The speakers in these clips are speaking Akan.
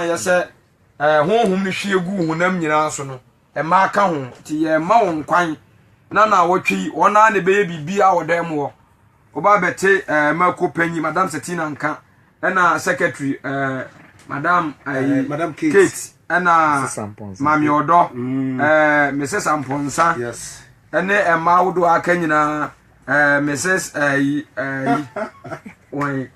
yɛ sɛ honhom no hwie gu honam nyinaa so no mmaa ka ho nti yɛmma wɔn kwan na na wɔtwe yi wɔn ara na ɛbɛyɛ biribi a wɔ dan mu hɔ wɔba bɛte ɛɛ mako panyin madam setina nka ɛna secretary ɛɛ madam ɛɛ madam kate ɛna maame ɔdɔ ɛɛ mrs ampɔnsa ɛne mmaa ahodoɔ aka nyinaa Eh, Mrs. Ayi, eh, Ayi, eh, wɔn,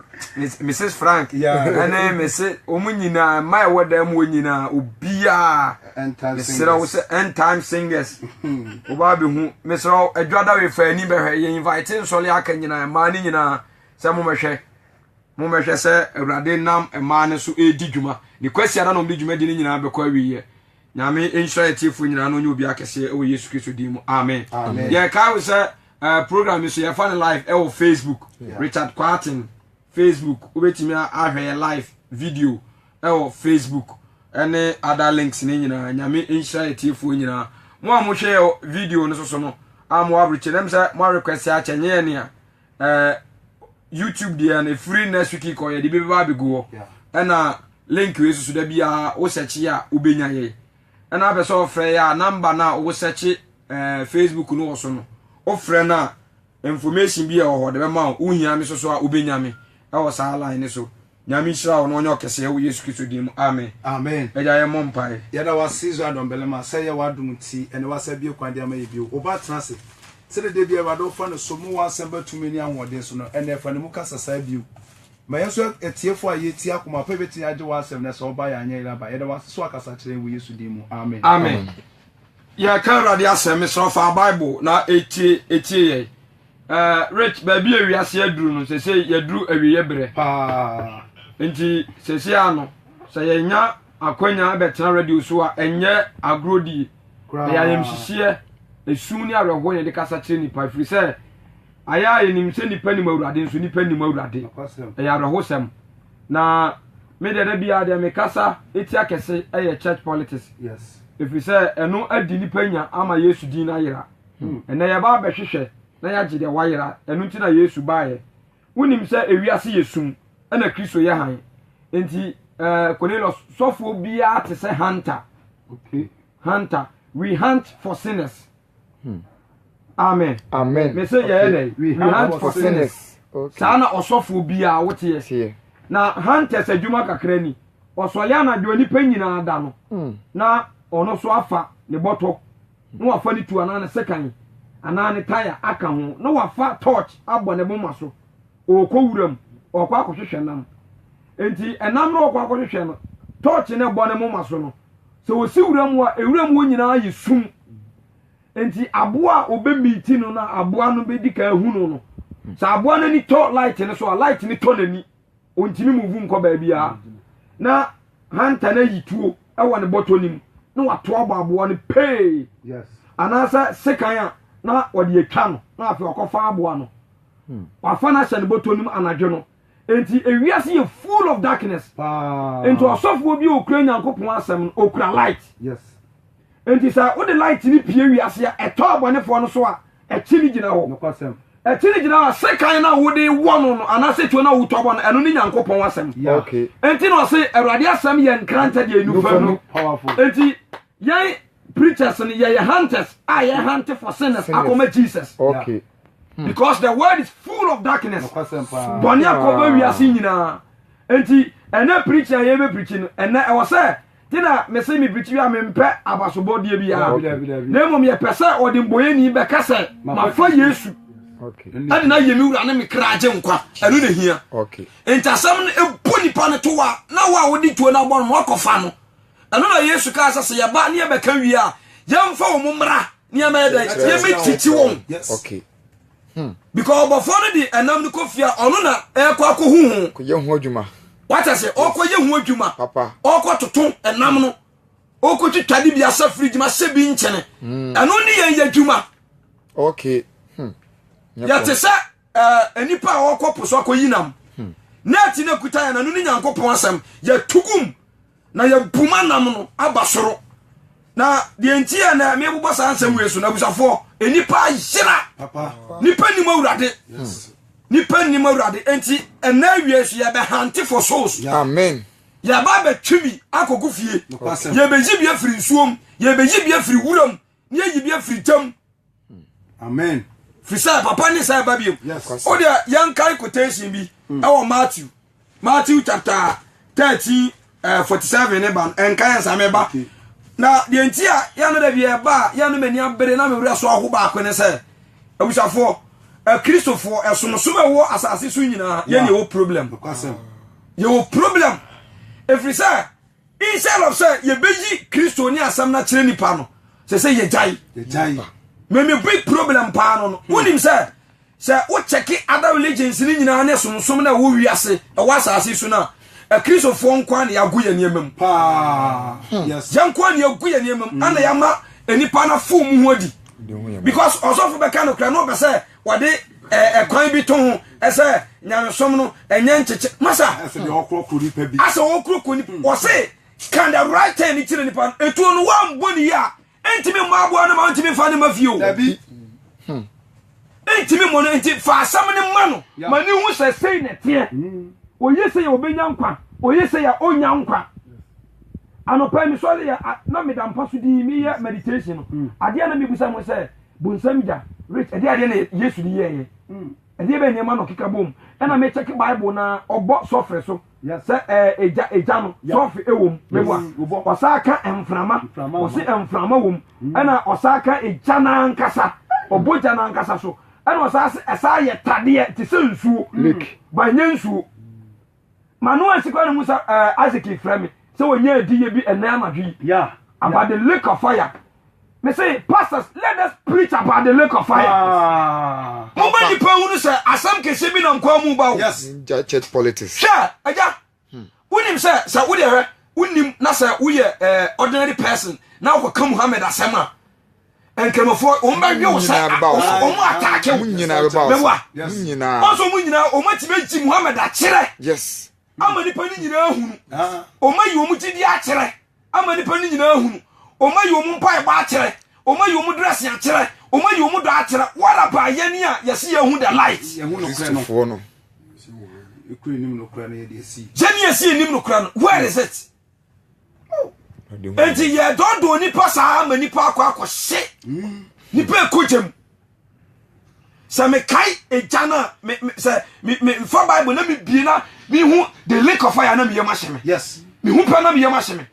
Mrs. Frank, ɛne Mrs. wɔn nyinaa, mmaa ɛwɔ dan mu wɔn nyinaa, obiara, mesrɛ wo sɛ end time singers, ɔbaa bi hu, mesrɛ wo, adwa da wei fa ani bɛhwɛ, yɛ invite nsɔle aka nyinaa, mmaa ne nyinaa, sɛ mo mɛhwɛ. Mommɛhwɛ sɛ Awurade nam mmaa no so redi dwuma. Ne Kwasiada na wɔde dwumadi no nyinaa bɛkɔ awieɛ. Nyame nhyira yɛn atiefoɔ nyinaa na ɔnyɛ obiara kɛseɛ wɔ Yesu Kristo din mu. Amen. Amen. Yɛkae wo sɛ eh, program yi so yɛfa no live ɛwɔ Facebook. Yeah. Richard Quarton Facebook. Wobɛtumi ahwɛ yɛ live video ɛwɔ Facebook ɛne other links no nyinaa. Nyame nhyira yɛ atiefoɔ nyinaa. Mo a mohwɛ video no so so no, a mo average, ɛnam sɛ mo request akyɛ nyɛ yɛ nea ɛɛ youtube deɛ no efiri next week kɔ yɛ de bi bɛba abɛgu hɔ ɛna link wei soso da biara wo sɛkye a wobɛnya yɛ ɛna apɛ sɛ ɔfrɛ yɛ a namba no a wo sɛkye ɛɛ facebook no wɔ so no wofrɛ no a information bi a ɛwɔ hɔ de bɛma wo wohia me soso a wobɛnya me ɛwɔ saa line no so Nyame nhyira wo na ɔnyɛ ɔkɛsɛɛ wɔ Yesu Kristo din mu amen. Amen. Agya yɛmmɔ mpaeɛ. Yɛda wo ase Israel dɔmbarima sɛ ɛyɛ w'adom nti ɛnɛ w'asa abue kwan de ama yɛ bio. Wo ba tena ase. Sɛdeɛ da biara Awurade wofa no so ma w'asɛm ba tumi ne ahoɔden so no, ɛnɛ fa ne mu kasa saa bio. Ma yɛn nso atiefoɔ a yɛtie akoma pa bɛtumi agye w'asɛm no sɛ woba yɛ anyɛ yere aba. Yɛda wo ase sɛ wakasa kyerɛ yɛn wɔ Yesu din mu. Amen. Amen. Yɛka Awurade asɛm, mesrɛ fa Bible na ɛtie ɛtie yɛn. Eh Rich baabi a wiase aduru no sɛsei yɛaduru awieɛ berɛ paa nti sɛsei a no sɛ yɛnya akwanya bɛtena radio so a ɛnyɛ agorɔ die ɛyɛ ayamhyehyeɛ ɛsu ne awerɛhoɔ na yɛde kasa kyerɛ nnipa ɛfiri sɛ ayɛ a yɛnim sɛ nnipa nim awurade nso nnipa nim awurade ɛyɛ awerɛhosɛm na me deɛ da biara deɛ mekasa ɛtia kɛse ɛyɛ church politics ɛfiri sɛ ɛno adi nnipa nya ama yesu din no ayera Ɛnnɛ yɛba abɛhwehwɛ na yɛagye deɛ wayera, ɛno nti na Yesu baeɛ. Wonim sɛ ewiase yɛ sum, ɛna Kristo yɛ hann. Enti ɛɛ Cornelius, sɔfoɔ biara te sɛ hunter. Okay. Hunter, we hunt for sinners. Hmm. Amen. Amen. Me sɛ yɛyɛ dɛ, we hunt for sinners. Saa na ɔsɔfoɔ biara woteɛ. Na hunters adwuma kakra ni. Ɔsɔre anadwo nipa nyinaa da no, hmm. na ɔno so afa ne bɔtɔ. na wafa ne tuo anaa ne sekan anaa ne taya aka ho na wafa torch abɔ ne moma so ɔrekɔ wuram ɔrekɔ akɔhwehwɛ nam nti ɛnam na ɔrekɔ akɔhwehwɛ no torch no ɛbɔ ne moma so no sɛ wɔsi wuram hɔ a ewuram hɔ nyinaa yɛ sum nti aboa a ɔbɛmiiti no na aboa no bɛdi ka ahunu no sɛ aboa no ani tɔ light no so a light no tɔ n'ani ɔntumi muvu nkɔ baabiara na hanta no ayi tuo wɔ ne bɔtɔ no mu na wato abɔ aboa no pee anaasɛ sekan a na wɔde atwa no na afei wakɔfa aboa no hmm. wafa no ahyɛ ne bɔtɔ no mu anadwo no nti ewiase yɛ full of darkness nti ɔsɔfoɔ bi a ɔkura nyankopɔn asɛm no ɔkura light yes. Enti sɛ wode light no pie wiase a, ɛtɔ abɔnefoɔ no so a, ɛkye no gyina hɔ. Nokwasɛm. Ɛkye no gyina hɔ a, sekan no a wode wɔ no no, anaasɛ tuo no a wotɔ bɔ no, ɛno ne Nyankopɔn asɛm. Yeah. Okay. Enti na ɔse, Awurade asɛm yɛ nkrantɛ deɛ nufa nu. Powerful. Enti yɛn preachers no, yɛyɛ hunters a yɛhante for sinners Sinners. akɔma Jesus. Okay. Because the world is full of darkness. Nokwasɛm paa. Bɔne akɔba wiase nyinaa. Enti ɛnɛ preaching a yɛbɛpreachi no, ɛnɛ ɛwɔ sɛ nti na mese mefitiw a mempɛ abasobɔdeɛ biara na mmom yɛpɛ sɛ ɔde mbɔyɛni bɛka sɛ mafa yesu ɛde no ayɛ me wura ne me kra agye nkwa ɛno na hia nti asɛm no ɛbɔ nipa no towa na wo a wode tuo no abɔ no ma ɔkɔfa no ɛno na yesu kaa sɛ sɛ yɛba ne yɛbɛka wie a yɛmfa wɔ mo mmara ne yɛmɛyɛ dɛ yɛmɛtiti wɔn Hmm. because ɔbɔfoɔ no de ɛnam no kɔ fie a ɔno na ɛkɔ akɔ hu ho kɔyɛ ho adwuma wata sɛ ɔkɔyɛ ho adwuma ɔkɔ toto ɛnam no ɔkɔ twitwa de bi asɛ fridge ma sɛ bi nkyɛne hmm. ɛno ne yɛn yɛ adwuma okay hmm. yɛte sɛ eh, nnipa a ɔkɔ po so akɔyi nam net no akuta yɛn ɛno ne nyankopɔn asɛm yɛtugum Na yɛabu m'anam no aba soro. Na deɛ nti a na mebobɔ saa nsɛm wei so no, abusafoɔ, nnipa ayera. Nnipa nnim Awurade. Nnipa nnim Awurade. Enti ɛnna awie nso yɛbɛhante for souls. Amen. yɛba abɛtwe bi akɔgu fie yɛbɛyi bi afiri nsuom yɛbɛyi bi afiri wuram ne yɛyi bi afiri ntam amen firi sɛ papa ne sɛ ɛba biom wodeɛ yɛnkae quotation bi hmm. ɛwɔ matthew matthew chapter 13 uh, 47 ne ba no ɛnka yɛn same ba na deɛ nti a yɛno da bi ɛba a yɛno m'ani abere na mewerɛ so aho baako ne sɛ abusafoɔ akristofoɔ ɛsomsom a ɛwɔ asase so nyinaa yɛne yɛwɔ problem yɛwɔ problem ɛfiri sɛ Instead of sɛ yɛbɛyi Kristo ne asɛm no akyerɛ nipa no, sɛ sɛ yɛgyae. Me me big problem paa no no, wonim sɛ sɛ wokyɛke other religions no nyinaa ne somsom no a ɛwɔ wiase ɛwɔ asase so no a akristofoɔ nko a na yɛago yɛ nneɛma mu paa yɛnko a na yɛagu yɛ nneɛma mu ana yɛama nnipa no afo mu ho adi because ɔsɔfo bɛka no kora na ɔpɛ sɛ Wɔde ɛkwan bi to ho sɛ nyamesom no ɛnyɛ nkyekye masa. Ɛsɛ deɛ ɔkorɔkorɔ nipa bi. Asɛ ɔkorɔkorɔ nipa wɔse can the right turn kyerɛ nipa no etuo no wɔambɔ ne yie a ɛntumi mmɔ aboa no ma ɔntumi mfa ne ma fie o. Dabi. Ɛntumi mmɔ no nti fa asɛm no ma no ma ne hu sɛ sei na ɛteɛ. Ɔyɛ sei a ɔbɛnya nkwa, ɔyɛ sei a ɔnnya nkwa. Anɔpa yi mesɔre yɛ na meda mpa so dii meyɛ meditation no adeɛ na mebusa mo sɛ Bonsam gya rich ɛdeɛ adeɛ na Yesu de yɛɛyɛ ɛdeɛ bɛyɛ nneɛma na ɔkeka bom ɛna me check bible na ɔbɔ sɔfere so sɛ ɛgya ɛgya no sɔfe ɛwom meboa ɔsa aka mframa ɔse mframa wom mm. ɛna ɔsa aka ɛgya na ankasa ɔbɔ gya na ankasa so ɛna ɔsa ase ɛsa yɛ tadeɛ te sɛ nsuo mm. ba nyɛ nsuo M'ano ansi koraa na mu sɛ ɛɛ eh, Isaac frɛ me sɛ wɔnya adiyɛ bi ɛnɛ anadwo yi. Yeah. About the lake of fire. Me say pastors let us preach about the lake of fire. Ah. Mo bɛ nipa hunu sɛ asɛm kɛse bi nam kwan mu ba o. Yes. Ninja church politics. Hwɛ ɛgya. Hmm. Wonim sɛ sɛ wo deɛ hwɛ wonim na sɛ woyɛ ɛɛ eh, ordinary person na wokɔka Muhammad asɛm a. nkramofoɔ wɔn bɛ yɛ wɔn sɛ wɔn mu ataake wɔn nyinaa bɛ ba wɔn nyinaa wɔn mu nyinaa wɔn atumi agyi muhammed akyerɛ ama nipa ne nyinaa hunu wɔn ayi wɔn gyidi akyerɛ ama nipa ne nyinaa hunu wɔn ayi wɔn mpaebɔ akyerɛ wɔn ayi wɔn dress akyerɛ wɔn ayi wɔn dɔ akyerɛ what about yɛn a yɛsi yɛn hu the light yɛn hu nokura no yɛn yɛsi yɛn nim nokura no where is it. nti yɛdɔɔdɔɔ nipa saa ma nipa akɔ akɔhye nipa ɛkogya mu sɛ mekae ɛgya no a sɛ mefa bible na mebie na mehu the lake of fire na meyam ahyɛ me mehu pɛ na meyam ahyɛ me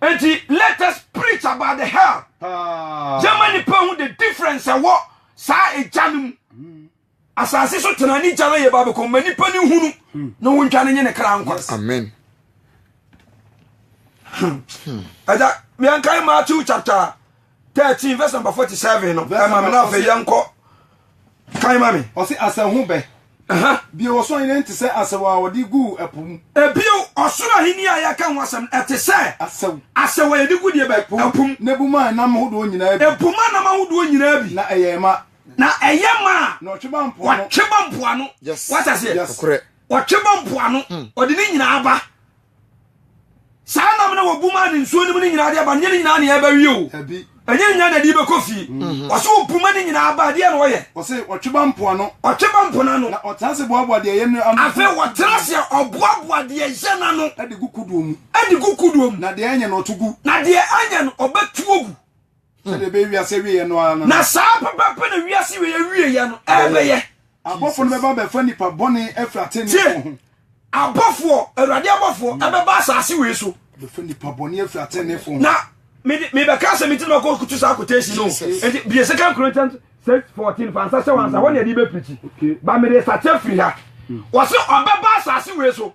nti let us preach about the hell yɛma nipa hu the difference ɛwɔ saa ɛgya no mu Asase so tena ne gyala yɛ babekɔ ma nipa ne hunu ne wo ntwa ne nye ne kra nkwa. Amen. Ɛda hmm. yɛnkae Matthew chapter thirteen verse number forty seven no ɛma mi na afɛ yɛnkɔ kan ma mi. Ɔsi asɛnho bɛ. Bio ɔsoro ahenni nti sɛ asɛw a wɔde gu ɛpo mu. Ebio ɔsoro ahenni a yɛka ho asɛm ɛte sɛ asɛw asɛw a yɛde gu deɛ bɛ ɛpo mu. N'ebuma nam ahodoɔ nyinaa bi. Ebuma nam ahodoɔ nyinaa bi. Na ɛyɛ ɛma. na ɛyɛ ma a wɔtwe ba mpoano wata se wɔtwe ba mpoano hmm. ɔde ne nyinaa ba saa nam na wɔbu maa ne nsuo no mu ne nyinaa de aba nyɛ ne nyinaa ne ɛbɛwie o ɛnyɛ nyinaa na ɛde bɛkɔ fie hmm. ɔsɛ wɔbu ma ne nyinaa ba adeɛ na wɔyɛ ɔsɛ ɔtwe ba mpoano ɔtwe ba mpoano no na ɔtena se boaboa deɛ ɛyɛ no ano afei wɔtena se ɔboaboa deɛ ɛyɛ no ano ɛde gu kodoɔ mu ɛde gu kodoɔ mu na deɛ ɛnyɛ no ɔto gu na deɛ ɛnyɛ no ɔbɛtuo gu sɛdeɛ ɛbɛyɛ wiase awieɛ no ara no na saa pɛpɛpɛ na wiase wieɛ awieɛ no ɛbɛyɛ abɔfoɔ no bɛba bɛfa nipa bɔne afiri atenefoɔ ho abɔfoɔ awurade abɔfoɔ hmm. ɛbɛba asase wei so bɛfa nipa bɔne afiri atenefoɔ ho na mebɛka sɛ menti no makɔkutu saa quotation no ɛnti bie second corinthians 6 14 fansa sɛ wansa hɔ ne ɛde bɛpirikyi ba mede sakye firi ha hmm. wɔse ɔbɛba asase wei so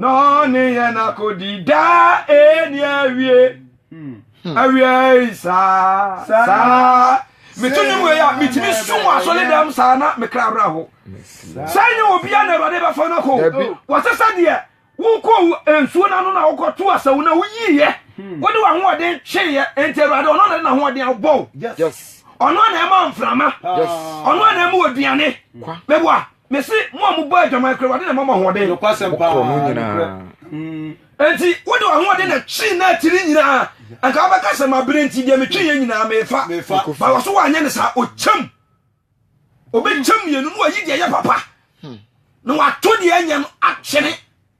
Na ɔne yɛn akodi daa ɛni awie hmm. awiei saa saa meto ne mu yɛ a metumi sum wɔ asɔre dɛm saa na mekra awerɛ ho sɛ nyɛ obia na awurade bɛfa no kɔ wɔsɛ sɛ deɛ wokɔ nsuo no ano na wokɔto asawu na woyiiɛ hmm. wode w'ahoɔden tweeɛ enti awurade ɔno na de n'ahoɔden abɔ wo ɔno na ɛma mframa ɔno na ɛma ɔduane mɛboa Mese mo a mobɔ adwaman kora Awurade na ɛma mo ahoɔden. Nokwasɛm paa. Mokorɔ no nyinaa. Enti wode w'ahoɔden na twee n'atiri nyinaa. Anka wobɛka sɛ mabere nti deɛ metweeɛ nyinaa mefa. Ba wɔ so woanyɛ no saa. Ɔkyɛm. Ɔbɛkyɛm mmienu na wayi deɛ ɛyɛ papa na wato deɛ ɛnyɛ no akyene.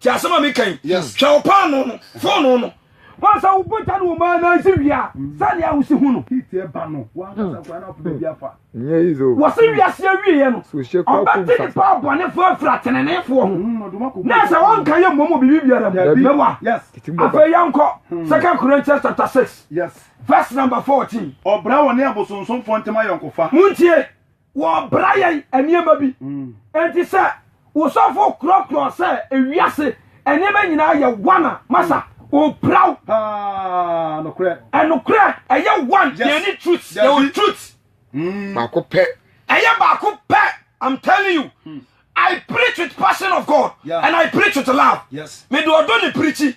Ti asɛm a meka yi, hwɛ wo paanoo no, foonoo no. Woahu sɛ wo bɔgya no wɔ mu ara na ansi wie a, sɛnea wusi hu no, heat ba no, w'ankasa nkoraa na wopɛ baabi afa. Wɔse wiase awieɛ no, ɔbɛte nnipa abɔnefoɔ afiri ateneneefoɔ ho, na ɛsɛ sɛ wɔnka yɛ mmom wɔ biribi biara mu. Mɛboa. Afei yɛnkɔ 2 Corinthians chapter 6 verse number 14. Ɔbra wɔ ne abosonsomfoɔ ntam ayɔnkofa. Montie, Wɔbra yɛn nneɛma bi. Enti sɛ wo sɔfo korɔkorɔ sɛ ewiase nneɛma nyinaa yɛ one a, masa ɔpira wo. Paa, nokorɛ. Ɛnokorɛ, ɛyɛ one. Yes. Yɛn ne truth. Dabi. Yɛwɔ truth. Mm. Baako pɛ. Ɛyɛ baako pɛ. I'm telling you. Hmm. I preach with passion of God. Yeah. And I preach with love. Yes. Mede ɔdɔ ne pirikyi.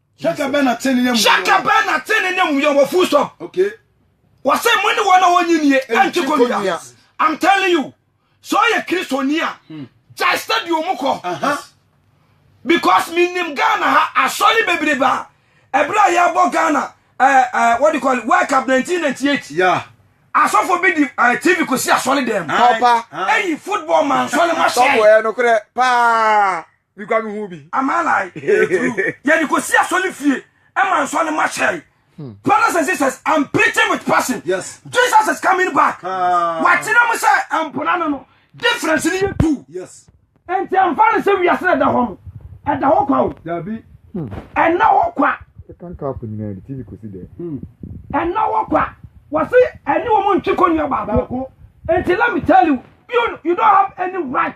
Hyɛka bɛn na te ne n'amuyɔ. Hyɛka bɛn na te ne n'amuyɔ wɔ full stop. Okay. Wɔsɛ mo ne wɔn a wɔnyi nie ɛnti kɔnua. I'm telling you sɛ ɔyɛ kristoni a hmm. gyae stadium mu kɔ. Because me nim Ghana ha asɔre bebrebe a ɛberɛ a yɛbɔ Ghana eh, eh, what do you call it World Cup 1998. Yeah. asɔfo bi di eh, tv kɔsi asɔre dɛm. Papa. Eyi football man sɔre ma hyɛ. Sɔfo yɛ nokorɛ paa. Me kura me hu bi. Am I lying? Ɛyɛ true. Yɛ de kɔsi asɔre fie ɛma nsɔ ne ma hyɛe. Hmm. Brothers and sisters, I'm preaching with passion. Yes. Jesus is coming back. Ah. Wakyerɛ mu sɛ mpona no no difference ni yɛ tu. Yes. Nti ɛmfa no sɛ wiase na ɛda hɔ no ɛda hɔ kwa o. Dabi. Hmm. Ɛna hɔ kwa. Ɛka nka akɔ nyinaa de TV kɔsi dɛ. Hmm. Ɛna hɔ kwa. Wɔsi ɛne wɔn ntwe kɔ nua baako. Nti let me tell you you, you don't have any right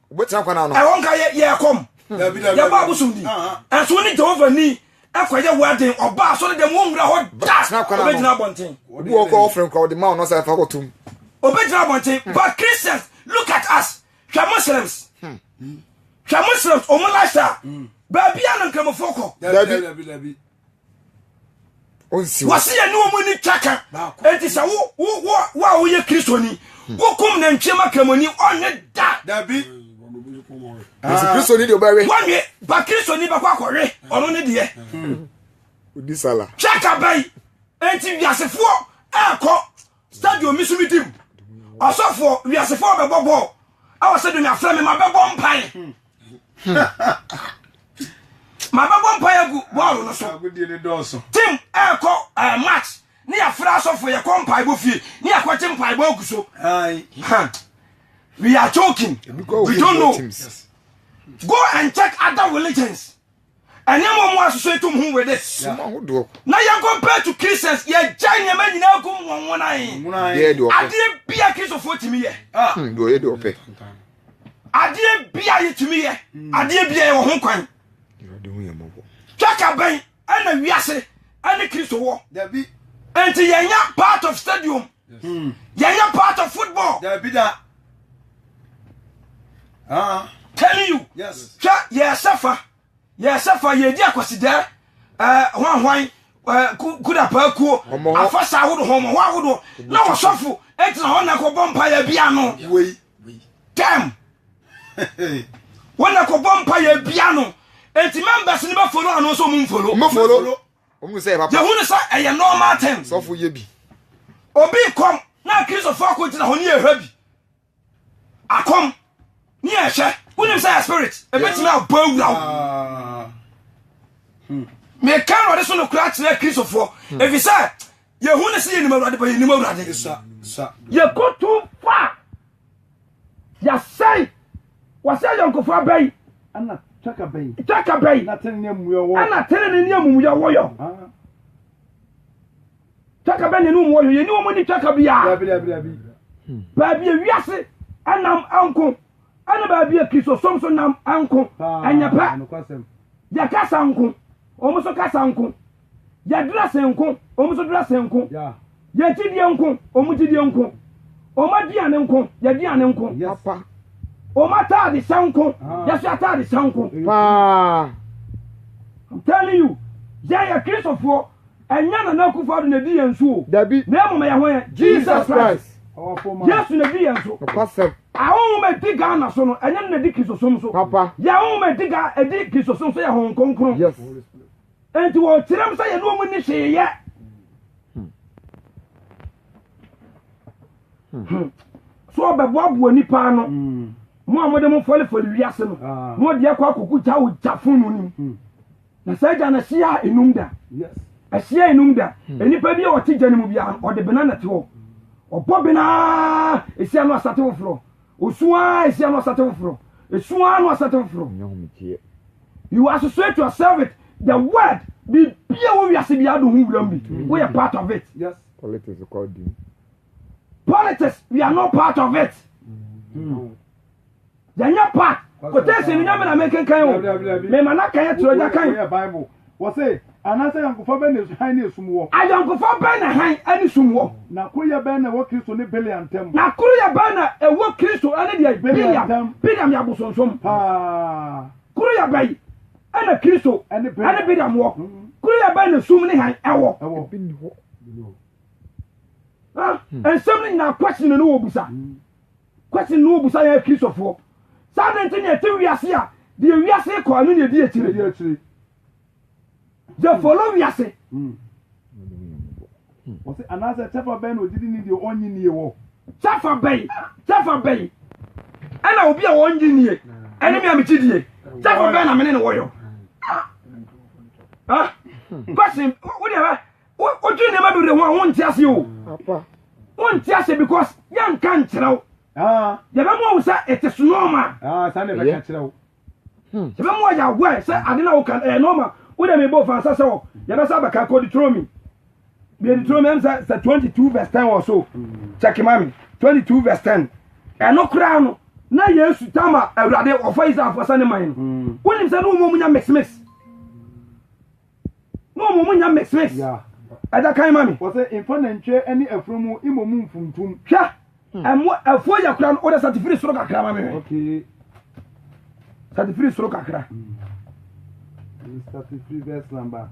Wobɛtena kwan ano. Ɛhɔ nka yɛ yɛɛ kɔm. Yɛbɔ abosom din. Ɛnso wo ne Jehovah ni kɔyɛ wo aden. Ɔba asɔre dɛm, wonwura hɔ da. Obegyina abɔnten. Obi wɔ hɔ kora wɔfrɛ no kora, wɔde ma wo na ɔsɛ afa hɔ tom. Obegyina abɔnten. Hmm. But Christians, look at us. Hwɛ Muslims. Hmm. Hwɛ Muslims, wɔn lifestyle. Hmm. Baabi a no Nkramofoɔ kɔ. Dabi. wɔse yɛne wɔn ani twa ka enti sɛ wo a woyɛ kristoni hmm. wokum nantwie ma kramoni ɔnwe da dabi kristoni deɛ ɔbɛwe wɔnwe ba kristoni bɛkɔ akɔwe ɔno ne deɛ hmm. twaka bɛyi enti wiasefoɔ ɛɛkɔ stadium mi so mi dim ɔsɔfoɔ wiasefoɔ bɛbɔ bɔɔl ɛwɔ sɛ dunya frɛ me ma bɛbɔ mpae hmm. ma bɛbɔ mpae agu bɔɔl no so tim ɛɛkɔ ɛɛ match ne yɛafrɛ asɔfoɔ yɛkɔ mpaebɔ fie ne yɛakɔgye mpaebɔ agu so we are joking we don't know go and check other religions Ɛne mo mo asoso etum ho with this. Sum ahodoɔ. Na yɛn compared to Christians yɛgya nneɛma nyinaa gum wɔn nwonan. Yɛyɛ deɛ ɔpɛ. Adeɛ bi a Kristofoɔ tumi yɛ. Hmm, deɛ ɔyɛ deɛ ɔpɛ. Adeɛ bi a yɛtumi yɛ. Hmm. Adeɛ bi a yɛwɔ ho kwan. Twaka bɛn ɛna wiase ɛne Kristo wɔ. Dabi. Nti yɛnya part of stadium. Hmm. yɛyɛ part of football. dabi da. Ah. telling you. yes. hwɛ yɛsɛ fa yɛsɛ fa yɛdi akwasidɛ ɛɛ eh, hwanhwan ɛɛ eh, kudapaa kuo afasa ahodoɔ hɔmɔ hɔ ahodoɔ na wɔsɔfo ɛtena hɔ na kɔ bɔ mpa yɛ bia no. wei tɛm wɔn na kɔ bɔ mpa yɛ bia no eti members ni bɛ folo ano nso mu nfolo. mbɛ folo. Yehu no sɛ ɛyɛ normal thing. Obi kɔm na Akristofo akogyina hɔ ne yɛhwɛ bi. Akɔm ne yɛhwɛ. Wonim sɛ yɛ spirit ebetumi abɔ awura wo. Hmm. Meka Awurade so nokora akyerɛ Akristofo hmm. efisɛ yehu no sɛ yɛnim Awurade ba yɛnim Awurade. Yɛkɔto fa Yɛasɛe. Wɔasɛe ayɔnkofa abɛn. Ɛna twaka bɛn. Twaka bɛn. Na tene ne amumuyɔ wɔ. Ɛna tene ne ne amumuyɔ wɔ yɔ. Ah. Twaka bɛn ne ne amumuyɔ yɔ. Yɛni wɔn ni twaka biara. Dabi dabi dabi. Hmm. Baabi a wiase ɛnam ɛnko ɛne baabi a kristosom so nam ɛnko ɛnyɛ pɛ. Yɛkasa nko. Wɔn so kasa nko. Yɛdrɛse nko, wɔn nso drɛse nko. Yɛgyidie nko, wɔn gyidie nko. Wɔn aduane nko, yɛduane nko. Papa. Wɔn ataade hyɛ nko, ah. yɛso ataade hyɛ nko. Paa. I'm telling you, yɛn yɛ Kristofoɔ, ɛnyɛ Nana Akufo-Addo na edi yɛn so o. Dabi. Na mmom ɛyɛ ho yɛ. Jesus Christ. Yesu na edi yɛn so. Ɔkwasɛm. Ahonhom ma edi Ghana so no, ɛnyɛ na edi Kristosom so. Papa. Yɛ ahonhom ma edi Ghana, edi Kristosom so yɛ ahonhom kronkron. Yes. Enti wɔkyerɛ m sɛ yɛne wɔn nni hwee yɛ. Hmm. So ɔbɛboaboa nnipa ano. Hmm. Mo a mode mo fɔlefɔle wiase no, ah. mo deɛ kɔ akɔko gya wo gya funu no. Hmm. Na saa gya no ahyia enum da. Ahyia enum da. Nnipa bi a ɔte gya no mu biara, ɔde bena na te hɔ. Ɔbɔ benaa, ehyia no asate foforɔ. Osu ara esia no ɔsate foforɔ. Esu ara no ɔsate foforɔ. Nyɛ homekyeɛ. You associate yourself with the world. Biribi a ɛwɔ wiase biara de ho wuram bi. Woyɛ part of it. Yes. Politics kɔ di mu. Politics, we are not part of it. Yɛnyɛ part. Quotation ni nyame na menkenkan o. Mema no akan akyerɛ ɔgya kan. Wɔse, Anaasɛ ayɔnkofa bɛn na hann ne esum wɔ? Ayɔnkofa bɛn na hann ne sum wɔ? Na koroyɛ bɛn na ɛwɔ Kristo ne Biliam ntam? Na koroyɛ bɛn na ɛwɔ Kristo ne deɛ? Biliam ntam. Biliam yɛ abosonsom. Paa. Koroyɛ bɛn na Kristo ne Biliam wɔ? Koroyɛ bɛn na sum ne hann wɔ? Ɛwɔ. Ebi nni hɔ. Nsɛm no nyinaa, question no wɔbusa. Question no Wobisa yɛn Kristofoɔ sɛ adɛn nti na yɛte wiase a deɛ wiase kɔ ɛno na yɛdi akyire? Yɛ follow wiase. Hmm. Wɔsi anaasɛ kyɛfa bɛn na ogyidi ni deɛ ɔnyi nie wɔ. Kyɛfa bɛn kyɛfa bɛn ɛna obi a ɔnyi nie ɛne mi a mekyi die kyɛfa bɛn na mene ne wɔyɔ. Question wo deɛ bɛ. wodwe nneɛma bebree ho a wonte ase o wonte ase because yɛnka nkyerɛ wo yɛbɛmu ahu sɛ it is normal yɛbɛmu ayɛ aware sɛ ade no a woka ɛyɛ normal wode mebɔ fa nsa sɛ o yɛbɛsa abɛka kɔ Deuteronomy deɛ Deuteronomy ɛm sɛ sɛ 22 verse 10 wɔ so check ma me 22 verse 10 ɛno koraa no na yesu tama awurade ɔfa israelfoɔ sɛ ne man no wonim sɛ ne wɔmɔ mu nya mix mix na wɔn mu nya meses ɛda kan ma mi. wɔsɛ nfa nantwie ɛne ɛforo mu imo mu nfuntum. hwɛ hmm. ɛmo ɛfoɔ yɛ kura no wɔde satifiri soro kakra ma mi hwɛ satifiri soro kakra. satifiri hmm. verse number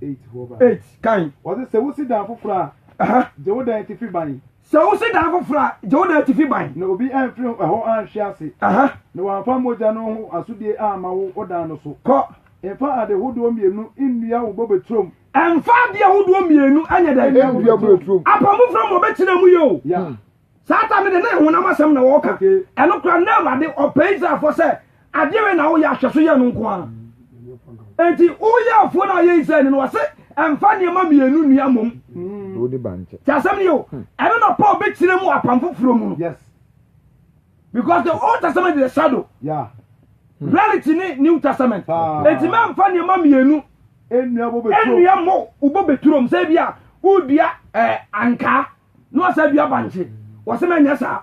eight hɔ ba eight kan. wɔsɛ sɛ wosi dan foforɔ a. gye wo dan ti fi ban. Sɛ wosi dan foforo a, gye wo dan atifi ban. Na obi amfiri hɔ anhwe ase. Na wamfa mogya no ho asodie amma wo ɔdan no so. Kɔ. Mfa ade hodoɔ mmienu nnua wo bobe turom. Mfa adeɛ hodoɔ mmienu nyɛ dɛn? Nnua wo bobe turom. Apam foforɔ mu wɔbɛkyerɛ mu yɛ o. Saa tam no deɛ, na ɛyɛ honam asɛm na wɔreka. Ɛno koraa, na Awurade ɔpɛ Israelfoɔ sɛ Adeɛbɛn na woyɛ ahwɛso yɛ no nko ara? Enti woyɛ afuo no a ɔyɛ Israel ni no wɔse ɛmfa nneɛma mmienu nnua mmom. Hmm. Ti asɛm ni o, hmm. ɛno na Paul bɛkyerɛ mu apam foforɔ mu no. Yes. Because the Old Testament is a shadow. Yeah. Hmm. Reality ni New Testament. Ah. Enti mɛmfa nneɛma mmienu nnua mmɔ wobɔ bɛturom sɛ bi a wodua eh, ankaa na wɔsɛ dua bankye wɔsɛ mɛnyɛ saa.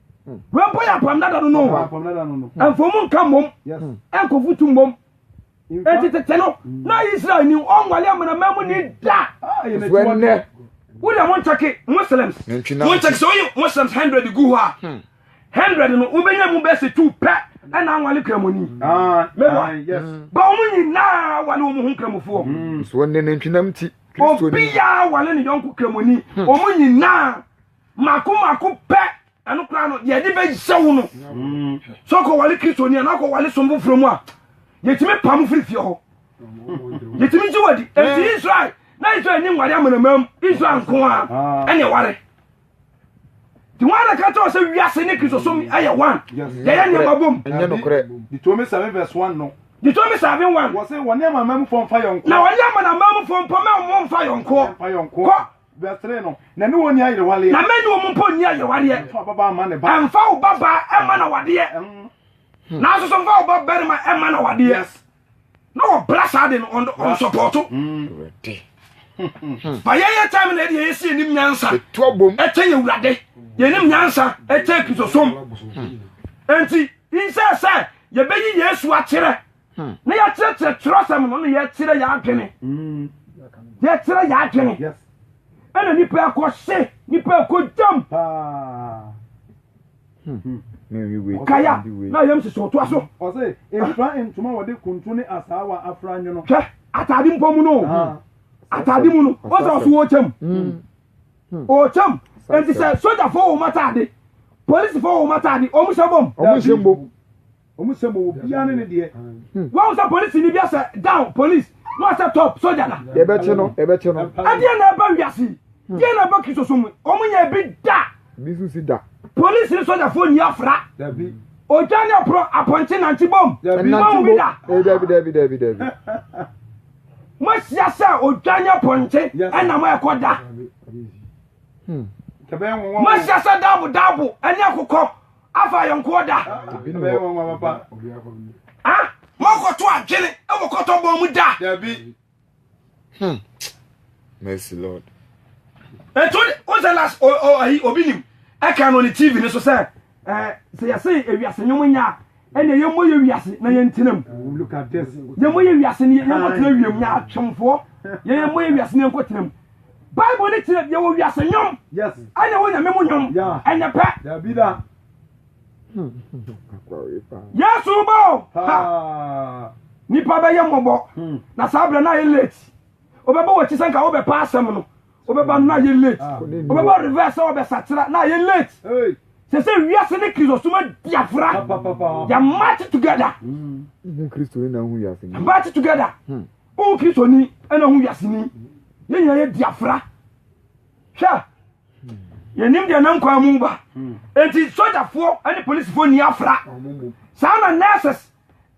wei mpo yɛ apam dada no no ɛmfo mu nka mmom ɛnkɔfo tu mmom ɛnti tete no na israel ni ɔnwale amanama mu ni da wodɛ mo nkyɛke muslims mo nkyɛke sɛ woyi muslims 100 gu hɔ a hmm. 100 no wobɛnya mu bɛsɛ tu pɛ ɛna anwale kramoni ah, mɛwa ah, hmm. ba ɔmo nyinaa wale ɔmo ho kramofoɔ hmm. obiaa wale ne yɔnko kramoni ɔmo nyinaa Mako mako pɛ ɛno koraa no deɛ ɛde bɛhyɛ wo no sɛ ɔkɔwale kristoni a na ɔkɔwale som foforɔ mu a yɛtumi pam firi fie hɔ yɛtumi gye wadi ɛnti israel na israel ni nware amanamam israel nko a ɛne ɛware nti wọn na ka kyerɛ sɛ wiase ne kristosom ɛyɛ one yɛyɛ nneɛma bom ditomi seven verse one no ditomi seven one wɔse wɔne amanamamufo mfa yɔnko na wɔne amanamamufo mpɔmɛ wɔn mfa yɔnko kɔ Verse 3 no, na ne wɔn nni ayerewareɛ. Na mɛne wɔn mpo nni ayerewareɛ. Mfa wo babaa mma ne ba. Mfa wo babaa mma no awadeɛ. Nanso so mfa wo babarima mma no awadeɛ. Na wɔbra saa de no, ɔnsɔpɔɔto. Ba yɛyɛ time na ɛde yɛyɛ si yɛnim nyansa ɛkyɛ yɛ wurade yɛnim nyansa ɛkyɛ kristosom enti insɛ sɛ yɛbɛyi yesu akyerɛ na yɛkyerɛkyerɛ twerɛsɛm no na yɛkyerɛ yɛ adwene yɛkyerɛ yɛ adwene ɛna nipa ɛkɔ hye nipa ɛkɔ gyam kaya na yɛm sisi ɔtoa so ɔse mfra ntoma wɔde kuntu ne asaawa afra nwono hwɛ atade mpo mu no atade mu no ɔsɛ ɔso wɔkyɛm ɔkyɛm nti sɛ sogyafo wɔ matade polisifo wɔ matade ɔmo hyɛ bom ɔmo hyɛ bom Ɔmu sɛ mowɔ biaa ne ne deɛ. Hmm. Wɔn sɛ polisi ni bi asɛ down police na asɛ top soja na. Yɛbɛkye no yɛbɛkye no. Ɛdeɛ na ɛba wiase hmm. deɛ na ɛba kristosom mu ɔmu nyɛ bi da. Bi nso si da. Polisi ni sojafoɔ ni afra. Dabi. Ɔtwa ne ɔporɔ apɔnkye nante bom. Dabi. Nante bom eh, dabi dabi dabi dabi. Mo ahyia sɛ ɔtwa ne apɔnkye ɛna mo ɛkɔ da. Mo ahyia sɛ daabo daabo ɛne akokɔ. afa ayɔnkoɔ da moakɔto adwene wɔ kɔtɔbɔ mu da hmm. mercy lord ɛto wosɛ las ayi obi nim ɛka no ne tv no so sɛ sɛ yɛse ewiase nwom nyɛ a ɛne yɛmmɔ yɛ wiase na yɛntena mu yɛmmɔ yɛ wiase ne yɛnkɔtena wiem nyɛ atwemfoɔ yɛmmɔ yɛ wiase ne yɛnkɔtena mu Bible no kyerɛ deɛ wɔ wiase nnwom ɛna ɛwɔ nyame mu nnwom ɛnyɛ pɛ yesu bɔ ha nipa bɛyɛ mmɔbɔ hmm. na saa berɛ no ayɛ late wobɛbɔ wɔkyi sɛ nka wobɛpa asɛm no wobɛba no na ayɛ late ah. wobɛbɔ reverse sɛ wɔbɛsakyera na ayɛ late sɛ sɛ wiase ne kristosoma diafra yɛmatch together hmm. match together hmm. Wo Kristoni na wo wiaseni, yɛn nyinaa yɛ diafra. Hwɛ, yɛnim deɛ nam kwan mu ba. Hmm. Enti sogyafoɔ ne polisifoɔ nni afra. Saa na nurses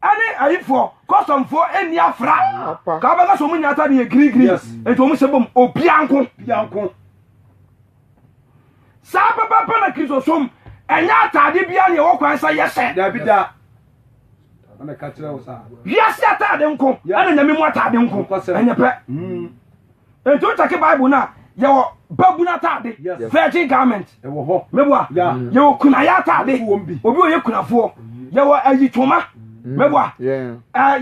ɛne ayifoɔ kɔsɔmfoɔ ɛni afra ka wobɛka sɛ ɔmu nyɛ atade yɛ girigiri nti ɔmu hyɛ bom obianko saa pɛpɛpɛ na kristosom ɛnyɛ ataade bia ne ɛwɔ kwan sɛ yɛhyɛ dabi da ɛna ka kyerɛ wo saa wiase ataade nko ɛna nyame mu ataade nko ɛnyɛ pɛ hmm. nti wo kyɛke bible no a yɛwɔ babunu ataade virgin garment ɛwɔ hɔ mɛboa yɛwɔ kunayɛ ataade obi ɔyɛ kunafoɔ yɛwɔ ayitoma mɛboa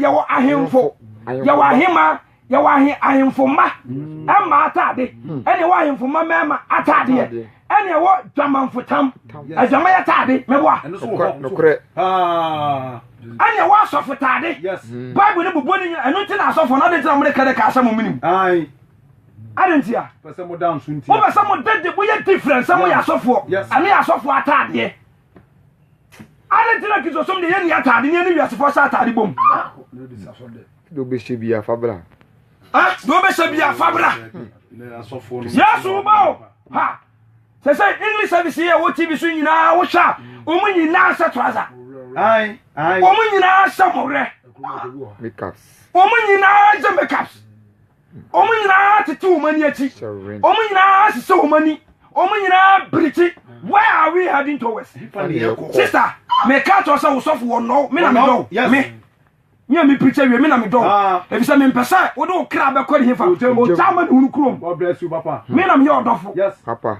yɛwɔ ahemfo yɛwɔ ahema yɛwɔ ahe ahemfo mma mma atade hmm. ɛne ɛwɔ ahemfo mma mmarima atadeɛ ɛne ɛwɔ dwamanfo tam adwama yɛ taade mɛboa ɛne ɛwɔ asɔfo taade hmm. bible ne bobɔ ne nyina ɛno nti na asɔfo no ade ntina mode kɛdɛ ka asɛ mo menim ade ntia wobɛ sɛ modede moyɛ different sɛ moyɛ asɔfoɔ ɛne yɛ asɔfoɔ atadeɛ Adɛn nti na Kristosom de yɛnni atade ne yɛne wiasefo ahyɛ atade bom? Deɛ wobɛhyɛ bi afa bra. Deɛ wobɛhyɛ bi afa bra. Yesu ba o. Ha. Sɛ sɛ English service yɛ wɔ TV so nyinaa wohwɛ a wɔn nyinaa hyɛ trouser. Wɔn nyinaa hyɛ mɔwerɛ. Makeups. Wɔn nyinaa hyɛ makeups. Wɔn nyinaa tete wɔn ani akyi. Wɔn nyinaa hyehyɛ wɔn ani. Wɔn nyinaa birikyi. Where are we heading towards? Sister, meka kyerɛ sɛ wo sɔfo wɔ nnɔw. Me na me dɔw. Me. Me a me pirikyi awie, me na me dɔw. Ah. Efisɛ me mpɛ sɛ wode wo kra bɛkɔ ne hefa. Ogya ma ne hunu kurom. Me na meyɛ ɔdɔfo. Papa.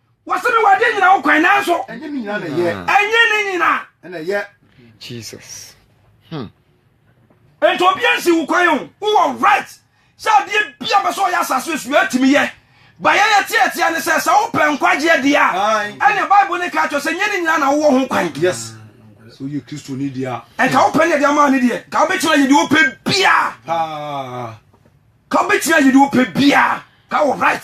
Wɔse me wade nyina wo kwan nanso. Ɛnyɛ ne nyina na ɛyɛ. Ɛnyɛ ne nyina. Ɛna ɛyɛ. Jesus. Hmm. Nti obia nsi wo kwan o. Wowɔ right sɛ adeɛ bia bɛ sɛ ɔyɛ asase esu atumi yɛ. Ba yɛyɛ teatea ne sɛ sɛ wopɛ nkwagyeɛ deɛ a ɛne Bible ne ka kyerɛ sɛ nyɛ ne nyina na wowɔ ho kwan. Yes. Sɛ woyɛ Kristo ni deɛ a. Nka wopɛ ne ɛde ama ne deɛ. Nka wobɛtumi ayɛ deɛ wopɛ bia. Paa. Nka wobɛtumi ayɛ deɛ wopɛ bia. Nka wo right.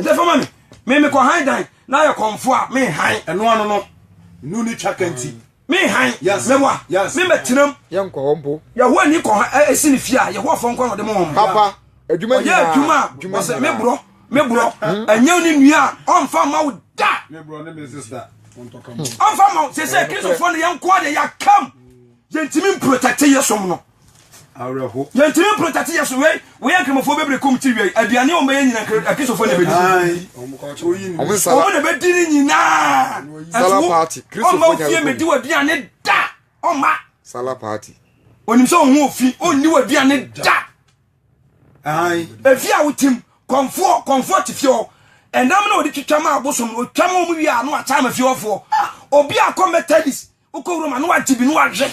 ɛsɛ fama me me me kɔ han dan na ayɛ kɔnfo a me han ɛno ano no nu ne twa kanti me han mɛwa me mɛtenam yɛnkɔ hɔ mpo yɛhoa ni kɔ ɛsi ne fie a yɛhoa fɔ nkɔ na ɔde mo wɔn papa adwuma nyinaa ɔyɛ adwuma a ɔsɛ me borɔ me borɔ hmm? ɛnyɛ ne nua a ɔmfa ma wo da me borɔ ne me sister ɔmfa ma wo sɛ sɛ kristofoɔ no yɛnkoa deɛ yɛakam yɛntumi mprotɛkte yɛ som no awerɛho. Yɛntumi mpere tati yɛ so wei wei nkramofoɔ bɛbrɛ kum ti wia yi aduane wɔn bɛyɛ nyina nkra akristofoɔ na bɛdi so wɔn na bɛdi ne nyinaa ɛso ɔma ofie mɛdi wɔ aduane da ɔma sala party onim sɛ ɔho ofi ɔnni wɔ aduane da efi a wotim kɔnfoɔ kɔnfoɔ te fie hɔ ɛnam na ɔde twitwa ma abosom no ɔtwa ma ɔmo wie a no ataa ma fie hɔfoɔ obi akɔ methodist wokɔ wura ma na wagye bi na wahwɛ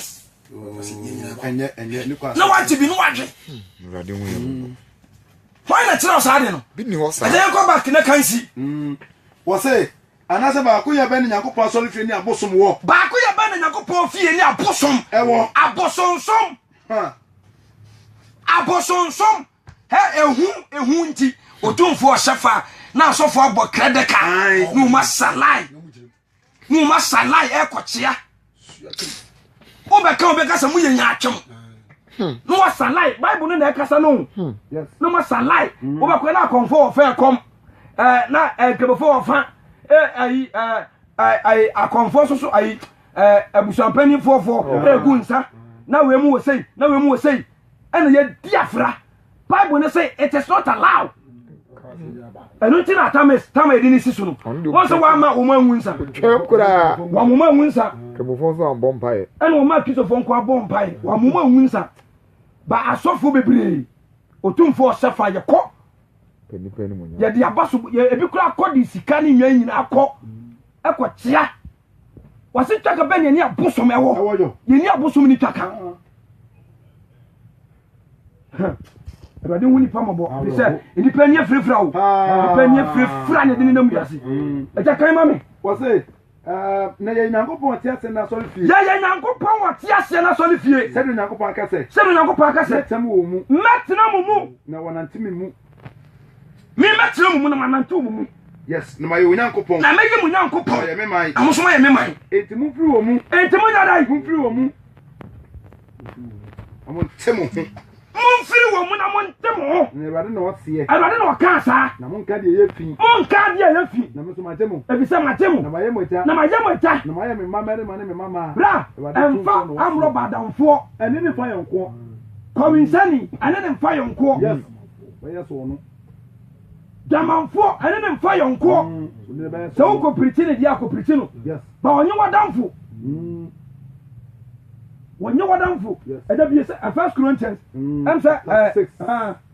na wagye bi na wahwɛ hwan na kyerɛ ɔsaa de no ɛdɛ yɛnkɔ back na kansi mm. wɔse anaasɛ baako yɛ bɛn ne nyankopɔn asɔre fie ne abosom wɔ baako yɛ bɛn ne nyankopɔn fie ne abosom ɛwɔ abosonsom abosonsom ehu ehu nti otumfoɔ ɔhyɛ fa na asɔfoɔ abɔ krɛdɛka na wɔn asalae Mo ma salai ɛkɔ kyea. Wo bɛ ka wo bɛ kasa mo yɛ nya atwam. Hmm. No wa salai Bible no na ɛkasa no. Hmm. Yes. No ma salai. Hmm. Wo bɛ kɔ na akɔnfo wɔ fɛ kɔm. Eh na eh kebefo wɔ fa. Eh ayi eh ayi akɔnfo soso ayi eh abusuampanyin fofo. Eh gu nsa. Na wemu wɔ sei, na wemu wɔ sei. Ɛna yɛ di afra. bible no se it is not allowed ɛno nti na atam tam ɛdi ne si so no wɔn sɛ wɔama wɔn anwu nsa twɛm koraa wɔn wɔn anwu nsa kɛmɔfoɔ nso ambɔ mpaeɛ ɛna wɔn a kristofoɔ nko abɔ mpaeɛ wɔn wɔn anwu nsa ba asɔfoɔ bebree otumfoɔ ɔhyɛ fa yɛkɔ yɛde aba so ebi kora akɔ de sika ne nwan nyinaa akɔ ɛkɔ kyea wɔse twaka bɛ ne ɛne abosom ɛwɔ yɛni abosom ne twaka awurade ho nipa mɔbɔ fi sɛ nnipa ni afirafira o nnipa ni afirafira na ɛde ne nam wiase ɛgya kan ma me wɔse na yɛ nyankopɔn ɔte aseɛ no asɔre fie yɛyɛ nyankopɔn ɔte aseɛ no asɔre fie sɛdeɛ nyankopɔn aka sɛ sɛdeɛ nyankopɔn aka sɛ mɛtena wɔ mu mɛtena mo mu na wɔnante me mu Mɛtena mo mu na manante mo mu. Yes, na mayɛ Onyankopɔn. Na mɛyɛ mo Nyankopɔn. Ɔyɛ me man. Na mo nso moyɛ me man. Enti momfiri wɔn mu. Enti monyɛ dɛn? Momfiri wɔn mu. Na monte mo ho. Momfiri wɔn mu na monte mo ho. Na Awurade na ɔseɛ. Awurade na ɔkaa saa. Na monka deɛ ɛyɛ fi. Monka deɛ ɛyɛ fi. Na me nso magye mo. Ɛfiri sɛ magye mo. Na mayɛ mo agya. Na mayɛ mo agya. Na moayɛ me mma mmarima ne me mma mmaa. Bra, ɛmfa amorɔba adamfoɔ. Ɛne ne fa yɔnkoɔ. Kɔwensani ɛne ne mfa yɔnkoɔ. Dwamanfoɔ ɛne ne mfa yɔnkoɔ. Mm, Sɛ wo kɔpirikyi ne deɛ akɔpirikyi no. Ba ɔnye wadamfo. Mm. Wɔnye wadamfo. Ɛda bie sɛ First Corinthians. Mm. Ɛm sɛ.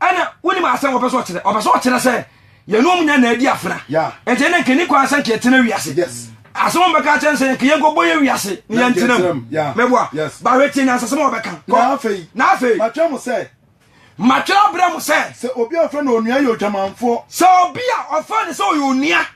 ɛna wonim asɛm wɔpɛ sɛ ɔkyerɛ ɔpɛ sɛ ɔkyerɛ sɛ yɛne ɔm nya na adi afena ɛnti ɛnɛ nkani kwan sɛ nka yɛtena wiase asɛm ɔmbɛka kyɛn sɛ nka yɛnkɔbɔ yɛ wiase ne yɛntena mu mɛboa bahwɛ tie nyansasɛm a wɔbɛka na afei matwerɛ mo sɛ matwerɛ abrɛ mo sɛ sɛ obi a ɔfrɛ no onua yɛ odwamanfoɔ sɛ obi a ɔfrɛ no sɛ ɔyɛ onua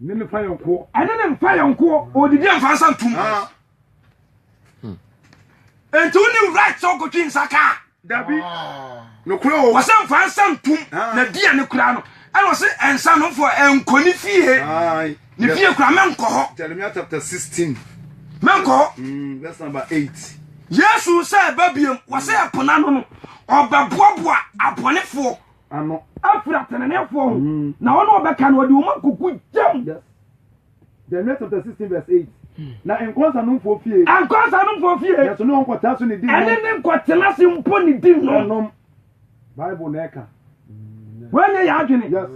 Ne ne fayɔnkoɔ. Ɛne ne fayɔnkoɔ. Ɔdidi a mfa nsa ntum. Hmm. Enti wo ne right sɛ ɔkɔtwe nsa kaa. Dabi. Ah. Nokorɛ o. Wɔsɛ mfa nsa ntum. Ah. Na di a ne kura no. Ɛna ɔsɛ ɛnsa no mfɔ ɛnkɔ ne fie. Ne fie kura mɛnkɔ hɔ. Jeremiah chapter 16. Mɛnkɔ hɔ. Hmm, verse number 8. Yesu sɛ ɛba biam. Wɔsɛ ɛpona no no. Ɔbɛboaboa abɔnefoɔ. ano. afiri ateneneefoɔ ho mm. na ɔno ɔbɛka no ɔde ɔma kuku gyam Jeremiah chapter sixteen verse eight. Hmm. na nkɔnsa no nfo fie. nkɔnsa no nfo fie. yɛsɔ ne nkɔtena so ne di nom. ɛne ne nkɔtena se mpo ne di nom. ɛnom bible na ɛka. wɔnyɛ yɛ adwene. yes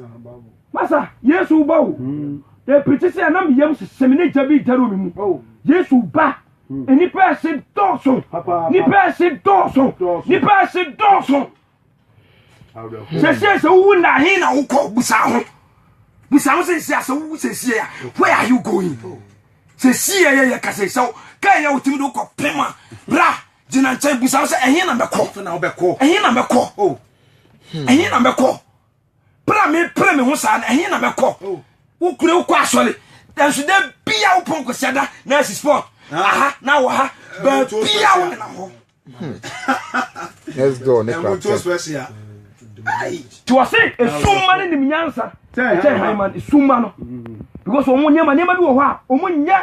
masa yesu ba o. Hmm. epirikyi sɛ ɛnam yam sisɛm ne gya bi gyara omi mu. Oh. yesu ba. Hmm. nipa ɛse dɔɔso. nipa ɛse dɔɔso. nipa ɛse dɔɔso. sɛsiɛ sɛ wowu nna he na wokɔ busa ho busa ho sɛsiɛ a sɛ wowu sɛsiɛ a where are you going sɛsiɛ yɛ yɛ kasɛ sɛ ka yɛ wotumi de wokɔ pem a bra gyina nkyɛn busa ho sɛ ɛhe na mɛkɔ ɛhe na mɛkɔ oh. hmm. ɛhe na mɛkɔ pra me pra me ho saa no ɛhe na mɛkɔ oh. wokure wokɔ asɔre nanso da bia wopɔn kɔsiada na asi sport aha na wɔ ha baabia wo nenam hɔ next door ne kura pɛ. tí wọ́n sẹ́ esumma ne nim nyansa kyẹ́ hàn ma esumma no because wɔn nneɛma nneɛma bi wɔ hɔ a wɔn nyɛ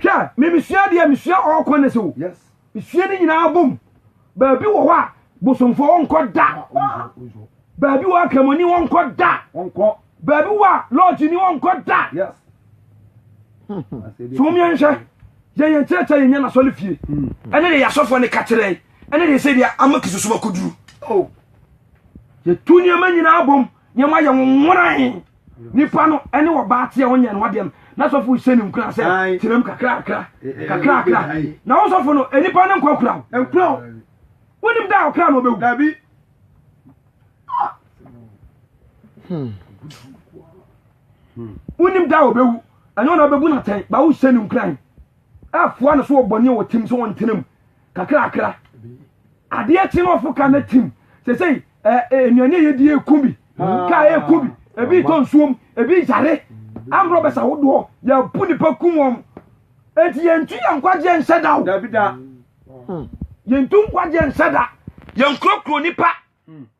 hwɛ mmemisua deɛ mesua all corners o mesua ne nyinaa bom baabi wɔ hɔ a bosomfo wɔnkɔ da baabi wɔ akramoni wɔnkɔ da baabi wɔ a lɔɔgye ni wɔnkɔ da so wɔn yɛn hwɛ. Yɛ yɛn kyerɛkyerɛ yɛn nya n'asɔre fie. Ɛne de yɛ asɔfoɔ ne ka kyerɛ yi. Ɛne de sɛ deɛ ama kisosom akɔduru. Oh. Yɛtu nneɛma nyinaa bom nneɛma yɛ nwonworan. Nipa no ɛne ɔbaa teɛ ɔnyɛ ne ho adeɛ no na sɔfo hyɛ ne nkura sɛ tenam kakrakra kakrakra na wo sɔfo no nipa no nkɔ kura wo. Nkura wo. Wonim da a ɔkra no ɔbɛwu. Dabi. Hmm. wonim da a ɔbɛwu ɛnyɛ wɔn na ɔbɛbu no atɛn ba wohyɛ no nkuran ɛfoa no so wɔ bɔne a wɔtim so wɔntena mu kakrakra adeɛ kye no ɔfo ka no tim sɛ sɛ nnuane a yɛdi ɛku bi ka ɛku bi ebi tɔ nsuom ebi yare ambrɔ bɛsa wodoɔ yɛbu nipa kum wɔn enti yɛntu yɛn nkwagyeɛ nhyɛ da o yɛntu nkwagyeɛ nhyɛ da yɛnkurokuro nipa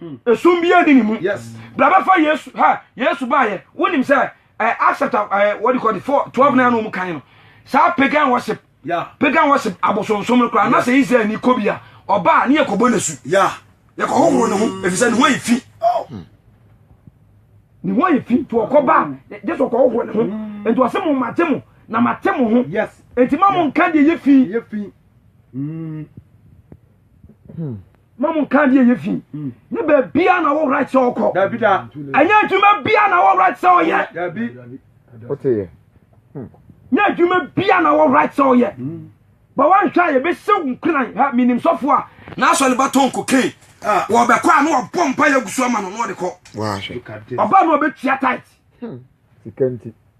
Hmm. Esum bi eni ne mu. Yes. Bla bɛfa Yesu ha Yesu ba yɛ. Wonim sɛ ɛ eh, Acts chapter ɛ eh, what do you call it four twelve hmm. na ɛna wɔn kan no. Saa pagan worship. Yeah. Pagan worship abosonsom no koraa. Na sɛ Israel ni kɔ bi a ɔbaa ne yɛ kɔbɔ ne su. Yeah. Yɛ kɔ hohoro ne ho hmm. efisɛ ne ho ayɛ fi. Oh. Ne ho ayɛ fi to ɔkɔ baa Yesu ɔkɔ hohoro ne ho. Nti ɔsɛ mo ma te mo na ma te mo ho. Yes. Nti ma mo nka deɛ yɛ fi. Yɛ fi. Mm. Hmm. ma mo nka adeɛ yɛ fi ne baabia na wo right sɛ ɔkɔ ɛnyɛ adwuma bia na wo right sɛ ɔyɛ nyɛ adwuma bia na wo right sɛ ɔyɛ bɛ woanhwɛ a yɛbɛsɛ wo nkuran ha menim sɔfo a na asɔ ne batɔn kokain wɔbɛkɔ a na wabɔ mpa yɛ agu so ama no na ɔde kɔ ɔba na ɔbɛtua tit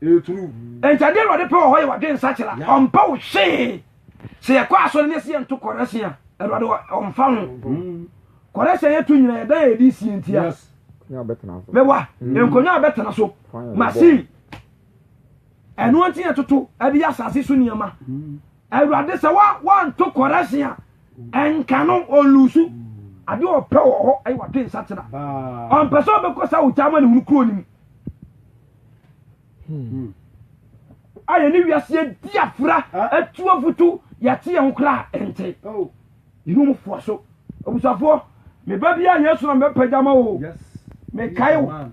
nti adeɛ awurade pɛ wɔ hɔ yɛ wadwe nsakyera ɔmpɛ wo hwee sɛ yɛkɔ asɔre ne sɛ yɛnto kɔrɛse a awurade ɔmfa ho mm. kɔrɛse a yɛto nyina yɛdan a yɛde sie ntia mɛwa mm. nkonnwa a bɛtena so machine ɛno nti yɛtoto ɛde yɛ asase so nneɛma mm. awurade sɛ wanto kɔrɛse a ɛnka no ɔnlusu adeɛ ɔpɛ wɔ hɔ ɛyɛ wadwe nsakyera ɔmpɛ sɛ ɔbɛkɔ sɛ wogya ma ne hunu kuro no mu Hmm. a yɛne wiase adi afra atu afoto yɛte yɛn ho koraa ɛnte oh. yɛne mu foa so abusuafoɔ meba bi a yesu na mɛpagya ma o mekae wo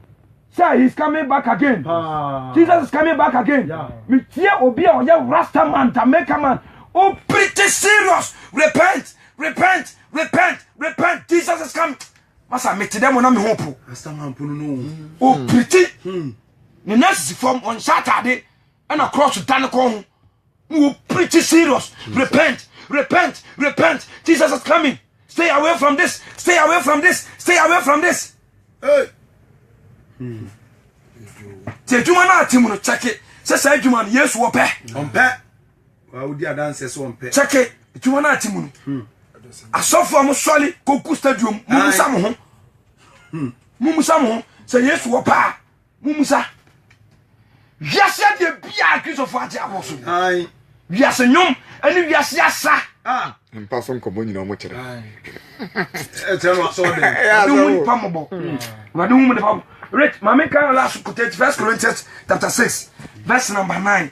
sɛ he is coming back again ah. jesus is coming back again metie obi a ɔyɛ rasta man jamaica man o pretty serious repent repent repent repent jesus is coming masa mete dɛ mo na me ho po ɔpiriti ne nurses fam ɔnhyɛ atade ɛna cross da ne kɔn ho na wɔpiriti serious repent repent repent jesus is coming stay away from this stay away from this stay away from this hey. hmm. te adwuma no ate mu no kyɛke sɛ saa adwuma no yesu wɔpɛ ɔmpɛ kyɛke tiwa no ate mu no hmm. asɔfo a mosɔre kɔku stadium mumusa mo ho hmm. mumusa mo ho sɛ yesu wɔ paa mumusa wiase adeɛ biaa kristofo agye abɔ so wiase nnwom ne wiase asa ah. mpa so nkɔmmɔ nyina ɔmo kyerɛ ɔde hu nipa mmɔbɔ ɔde hu nipa mmɔbɔ rich maame kan last kote first corinthians chapter six verse number nine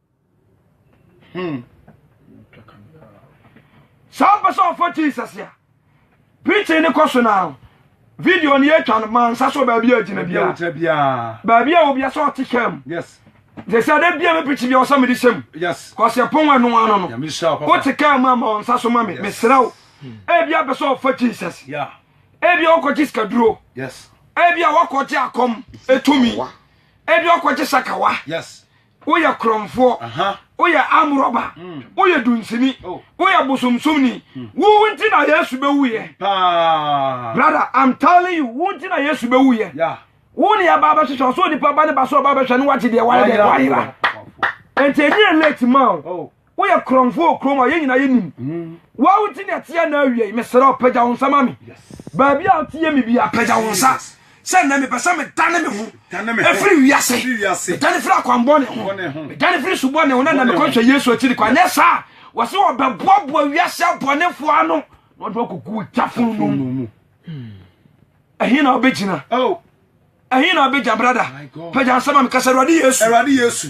Hmm. Sɛ ɔmpɛ sɛ ɔfɔ Jesus a, preaching ne kɔ so na video no yɛtwa no ma nsa so baabi a gyina biara. Baabi a obi asɛ ɔte kaa mu. Sɛ sɛ dɛ bia me preaching bi ɔsɛ mede hyɛ mu. Kɔsɛ pon wɔ ɛno ano no. Wote kaa mu ama ɔnsa so ma me. Mesrɛ wo. Ebi apɛ sɛ ɔfɔ Jesus. Ebi ɔkɔ gye sikaduro. Ebi a wakɔ gye akɔm etumi. Ebi ɔkɔ gye sakawa. Yes. woyɛ korɔmfoɔ woyɛ amorɔba woyɛ dunsini woyɛ bosomsomni wo nti na yesu bɛwuyɛ brother i'm telling you wo nti na yesu bɛwuyɛ wo ne ɛba bɛhwehwɛ ɔsɛ onipa ba ne ba sɛ ɔba bɛhwɛ ne wate deɛ wayɛ deɛ wayera enti ɛnyɛ late ma o woyɛ korɔmfo wɔ kurom a yɛn nyinaa yɛnim wawo nti ne ɛteɛ na awiei mesrɛ wo pagya wo nsa ma me baabi a woteɛ me bia pagya wo nsa sɛ nnɛ mepɛ sɛ medane me ho ɛfiri wiase medane firi akwanbɔne ho medane firi subɔne ho na na mekɔhwɛ yesu akyiri kɔ anyɛ saa wɔ sɛ wɔbɛboaboa wiase abɔnefoɔ ano na ɔde wakɔgu gya fono mu ɛhe na wobɛgyina ɛhe na wobɛgya brada pagya nsa ma mekasa awurade yesu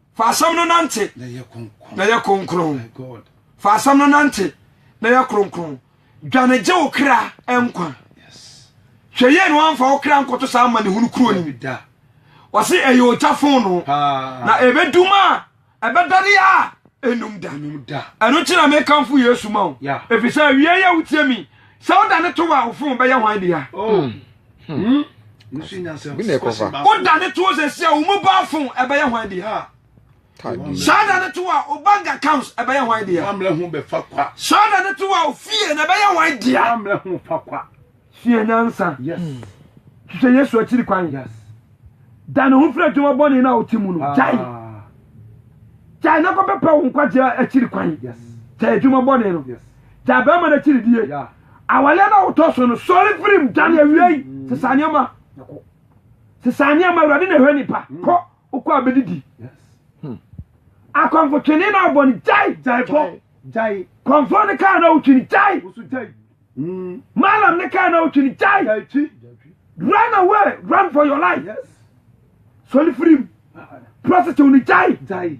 Fa asɛm no nante na yɛ kronkron. Fa asɛm no nante na yɛ kronkron. Dwane gye wo kra nkwa. Hwɛ yie na wamfa wo kra nkɔto saa amanehunu kuro ni. Wɔse ɛyɛ ogya fono na ɛbɛdum a ɛbɛdane a ɛnum da. Ɛno nti na mekamfo Yesu ma wo. Ɛfiri sɛ awieɛ yɛ wotie mi. Sɛ wodane to a wo fon bɛyɛ hwan dea? Oh. Hmm. Hmm. Bi na ɛkɔ fa. O da ne to o sɛ si a, o mu ba fun ɛbɛyɛ hwan di ha. Saa da ne to a, o bank accounts ɛbɛyɛ hwan di ha. Saa da ne to a, o fie na ɛbɛyɛ hwan di ha. Sua nyansa. Hwehwɛ Yesu akyiri kwan. Da ne ho firi adwuma bɔne na o ti mu no. Ah. Gyae. Gyae na kɔ bɛpɛ wo nkwagye akyiri kwan. Gyae adwuma bɔne no. Gyae bɛrima no akyiri die. Awale no a wotɔ so no, sɔre firi mu, dwane awiei, sesa nneɛma. Sesa nneɛma, Awurade na ɛhwɛ nipa. Hmm. Kɔ, wokɔ a bɛdidi. Hmm. Akɔmfo twene na wobɔ no, gyae. Gyae kɔ, gyae. Kɔmfo ne kaa na wotwi no, gyae. Woso gyae. Hmm. Malam ne kaa na wotwi no, gyae. Gyae twi. Run away, run for your life. Yes. Sɔre firi mu. Prostitute no, gyae. Gyae.